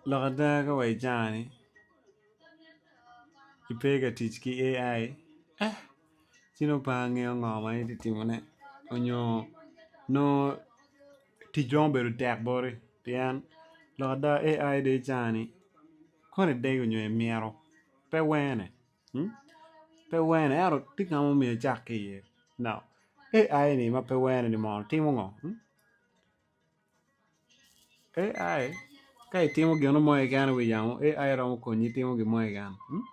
Lok ada ka wa i jangani ki pe ka tic ki AI ci nongo pe angeyo ngo ma itye ka timone nyo nongo ticwa obedo tek boti pien lok ada AI dong i caa ni koni idegi nyo imito pe wene. Pe wene ento tye kama omyero icak ki iye now AI ni ma pe wene ni mono timo ngo hmm AI ka itimo gino mo keken i wi yamo AI romo konyi itimo gin mo keken hmm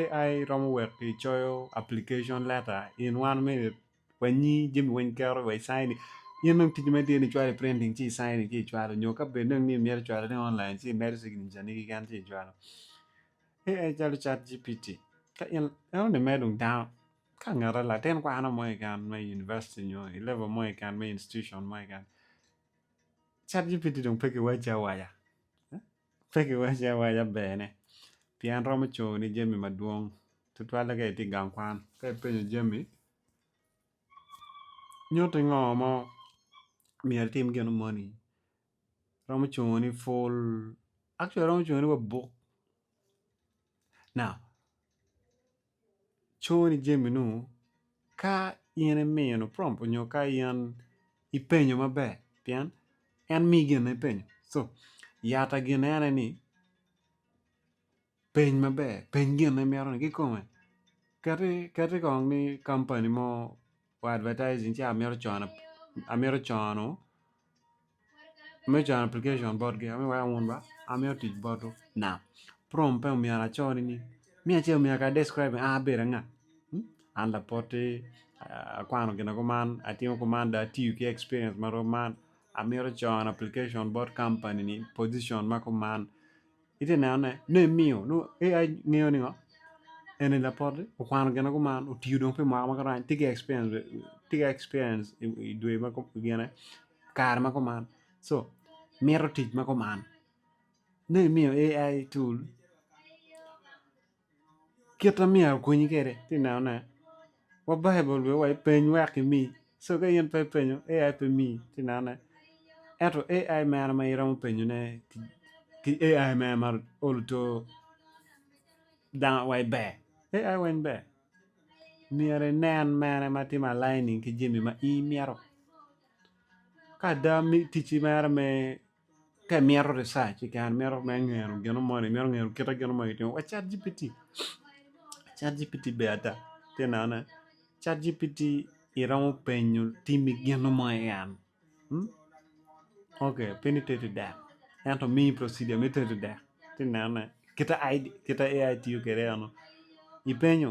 AI romo weko icoyo application letter in one minute wanyi jami weny keto wa i sign in in dong ticci ma itye ni icwalo i printing ci i sign ci icwalo nyo ka bed dong ni imyero icwalone online ci imedo signature ni keken ci icwalo AI calo ChatGPT ka in eno ni mere dong dano ka ngete latin kwano mo keken me university nyo i level mo keken me institution mo keken ChatGPT dong pe kiwace awaca eh? pe kiwace awaca bene pien romo coni jami madwong tutwalle ka itye i gang kwan ka ipenyo jami nyuti ngo ma myero itim gino moni Romo cungo ni full actually romo cungo ni wa book now cungo ni jami nu ka in imino prompt onyo ka in ipenyo maber pien en mii gin ma ipenyo so yata gine ene ni Peny maber, peny gin ma imito ni kikome. Kati kati kong ni kampani mo me advertising ci amito cono amito cono amito cono application botgi amito weko awun ba amito tic botwu nak prompt pe myero acone ni miya ce myero kong i-describ ni an abedo anga an lapoti akwano gina kuman atimo kuman dong atiyo ki experience ma rom man amito cono application bot kampani ni position ma kuman itye ka nenone nongo imiyo nongo AI ngeyo ni ngo eni lapoti okwano gin ma gumano otiyo dong pi mwaka ma gurany tye ki experience i dwe ma gine kare ma guman so mito tic ma guman nongo imiyo AI tool. kit ma myero akonyi kwede tye ka nenone wa Baibul omiyo wa ipeny wek imi so ka in pe ipenyo AI pe miyi tye ka nenone ento AI mene ma iromo penyone ki AI mene ma olo to dano wai ber AI weng ber myero inen mene ma tye ma aligning ki jami ma in imito ka ada ticci mere me ka imito research kikare imito me ngeno gino moni imito ngeno kite gino moni kitimo wa cat GPT cat GPT ber ada ite nenone cat GPT iromo penyo timi gino mo en ok pe ni tedo dek ento miyi procedure me tedo dek ite nenone kite AI tiyo kwede eno ipenyo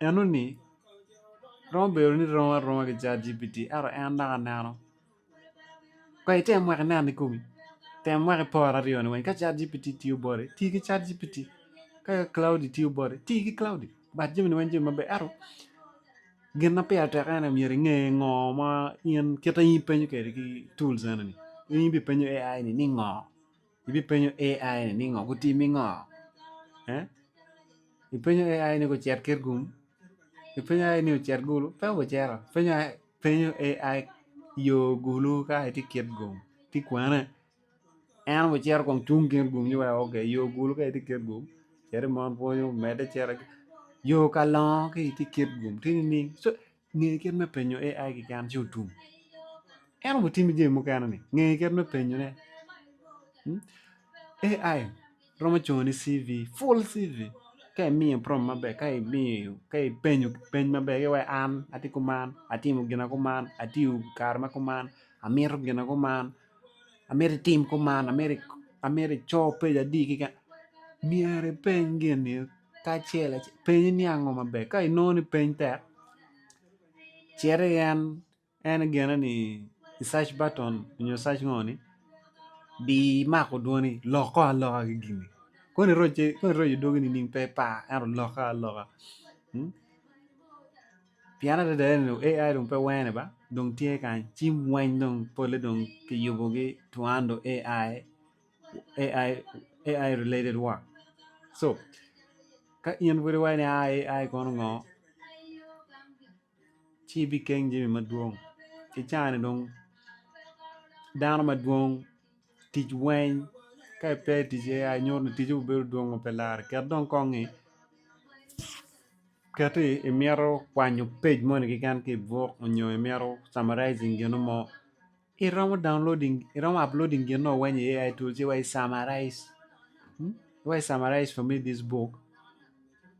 Enoni romo bedo ni rom aroma ki Cat GPT ento en dok aneno. Kong item wek inen i komi, tem wek ipor aryoni weny ka Cat GPT tiyo boti, ti ki Cat GPT, ka Claude tiyo boti, ti ki Claude, bat jamini weny jami maber ento gin ma pire tek ene myero inge ngo ma in kite in ipenyo kwede ki tools enoni, in ibipenyo AI ni ngo. Ibipenyo AI ni ningo gutimi ngo eh ipenyo AI ni gucit kit gum ipenyo AI ni ocit gulu pe gucito ipenyo AI ipenyo AI yo gulu ka itye kit gum tye kwene en aye ocito kong cung kit gum ci weko ok yo gulu ka itye kit gum cit imon pwonyu medde cito yo ka longo ka itye kit gum tye nining so Nge kit me penyo AI keken ci otum. En oromo timi jami mukene ni. Nge kit me penyo ne. Hmm? AI romo congo ni CV, full CV. Ka imiye prom maber, ka imiyo, ka ipenyo peny maber, ki wai an ati kuman, atimo gina kuman, atiyo kare ma kuman, amito gina kuman, amito itim kuman amito amito ico pec adi keken myero ipeny gin-ni kacel acel penye ni ango maber ka inongo ni peny tek cit i en en gene ni i search button nyo search ngo ni di mako dwoni lok kong aloka ki gin-ni kong iroc kong iroc i dwogi nining pe par ento lokke aloka Pien adada ni dong AI dong pe wene ba dong tye kany ci weng dong pole dong kiyubogi to under AI, AI, AI related work so ka in pud iwaco ni aa AI kono ngo ci ibikeng jami madwong ki cani dong dano madwong. tic weny ka ipe i tic AI nyuto ni ticce bedo dwongo pe lare ket dong kongi ket ni imito kwanyo page moni keken ki ibuk nyo imito summarizing gino mo iromo downloading iromo uploading gin no weny i AI tool ci wa i summarize wa i summarize for me this book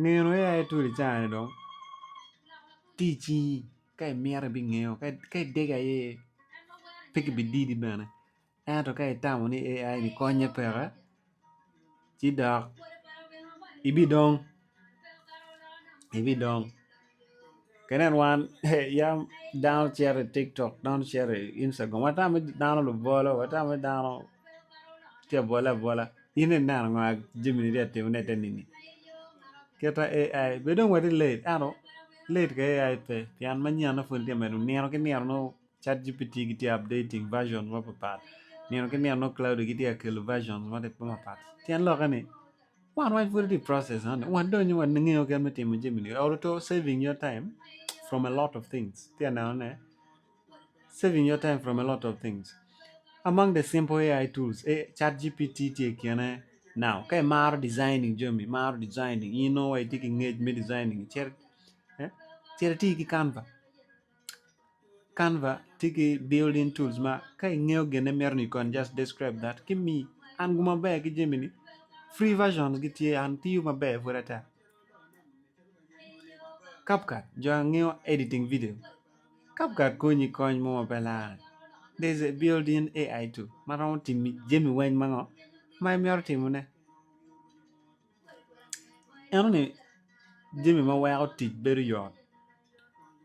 Nino aye aye tuli cani dong tici ka imito ibingeyo ka idege aye pe ki bi didi bene ento ka itamo ni AI ni konye peke ci dok ibidong ibidong Ki nen wan yam dano cito i tiktok dano cito i Instagram watame dano lubolo watame dano tye abole abola in dong ineno ngo jami ni tye ka timone i te nini kita AI be dong watye late ento late ka AI pe pien manyen-na pud tye ka medo nino ki nino nongo ChatGPT gitye ka updating versions mapapat nino ki nino nongo Claude gitye ka kelo versions mapapat tyen lokke ni wan waco pud watye i process ento wan dong onyo wangeyo kit me timo jami ni olo to saving your time from a lot of things atye ka neno ne saving your time from a lot of things among the simple AI tools ChatGPT tye i kine now ka imaro designing jami imaro designing in nongo wa itye ki ngec me designing cit eh cit iti ki Canva Canva tye ki building tools ma ka ingeyo gine mito ni kony just describe that ki mi and gu maber ki jami ni free version gi tye and tiyo maber pud ata CapCut jo angeyo editing video CapCut konyi kony mo ma pe lar there is a building AI tool ma romo timi jami weng ma ngo ma imito timone. Ento ni jami ma weko tic bedo yot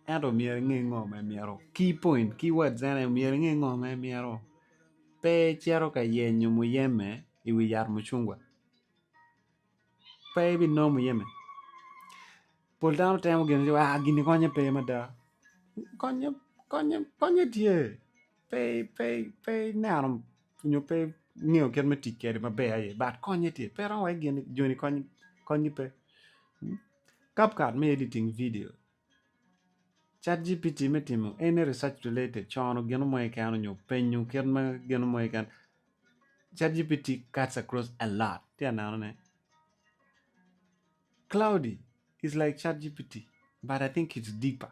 ento myero inge ngo ma imito key point key words ene myero inge ngo ma imito pe icito ka yenyo muyeme i wi yat mucungwa pe ibinongo muyeme pol dano temo gin ni wa gini konye pe mada konye konye konye tye pe ineno nyo pe ingeyo kit me tic kwede maber aye but konye tye pe iromo wai gin joni kony gi pe cap cut me editing video chat GPT me timo any research related cono gino mo keken nyo penyo kit ma gino mo keken chat GPT cuts across a lot tye ka neno ne cloudy is like chat GPT but I think it's deeper.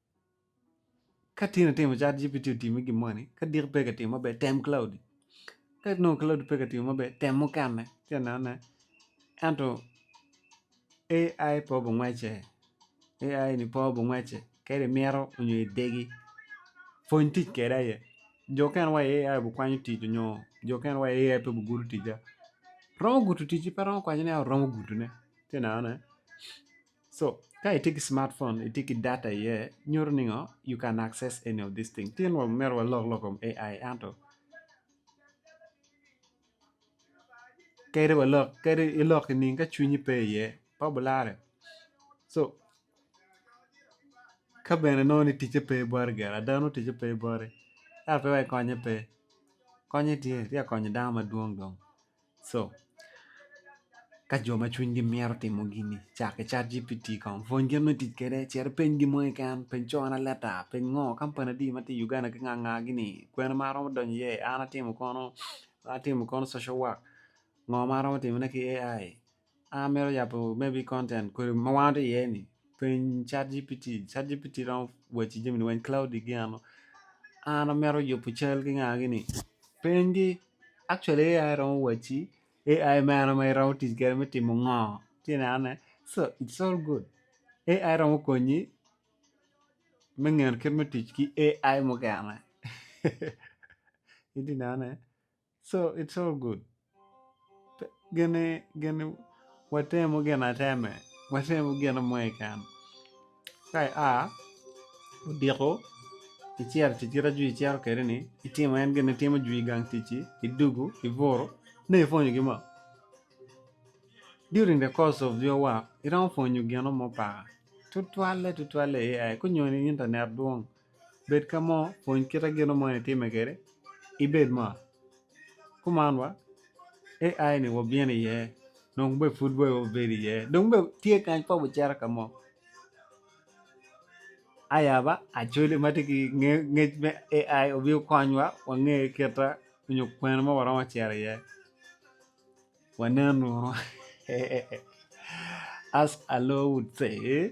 Ka tin atimo cat GPT otimi gin moni, ka dik pe ka timo maber tem Claude. Ka nongo Claude pe ka timo maber tem mukene ci anene. Ento AI pe obungwece, AI ni pe obungwece kadi imito nyo idegi pwony tic kwede aye. Jo mukene wa i AI obukwanyo tic nyo jo mukene wa i AI pe obugudo ticca. Romo gudo ticci pe romo kwaco ni oromo gudone ci inenone. So ka itye ki smart phone itye ki data iye nyuto ni ngo you can access any of this thing tye wa myero walok lok kom AI ento kadi walok kadi ilok ki nining ka cwinyi pe iye pe obulare so ka bene nongo ni ticce pe bwati gire ada nongo ticce pe bwati yat pe wai konye pe konye tye tye ka konyo dano madwong dong. Co. Ka jo ma cwinygi mito timo gini cakke cat GPT kong, pwony gin me tic kwede, cit ipeny gin mo keken, peny cone leta, peny ngo, kampani adi ma tye i Uganda ki nga nga gini, kwena ma aromo donyo iye, an atimo kono, atimo kono social work, ngo ma aromo timone ki AI, An amito yabo maybe content kodi ma wan watye iye ni peny cat gpt, cat gpt romo waci jami weng claude gi ano an amito yubo cal ki nga gini peny gi actually AI romo waci AI mene ma iromo tic kwede me timo ngo ci ineno ne so it's all good AI romo konyi me ngeyo kit me tic ki AI mukene itye ka neno ne So it's all good gine gine watemu gin ateme watemu gin mo keken ka ia odiko icito tic kit ma jwi cito kwede ni itimo en gin itimo jwi i gang ticci idugu ibutu nongo ipwonyo gin mo during the course of your work iromo pwonyo gin mo paka tutwalle tutwalle AI kanyoni internet dwong. bed ka mo pwony kite gin mo ni time kede ibed mot kuman wa AI ni wabino iye dong be pud be wabedo iye dong be tye kany pa wucito ka mo aya ba Acholi ma tye ki ngec me AI obino konywa wange kita nyo kwena ma waromo cito iye wanen uru as Alo would say.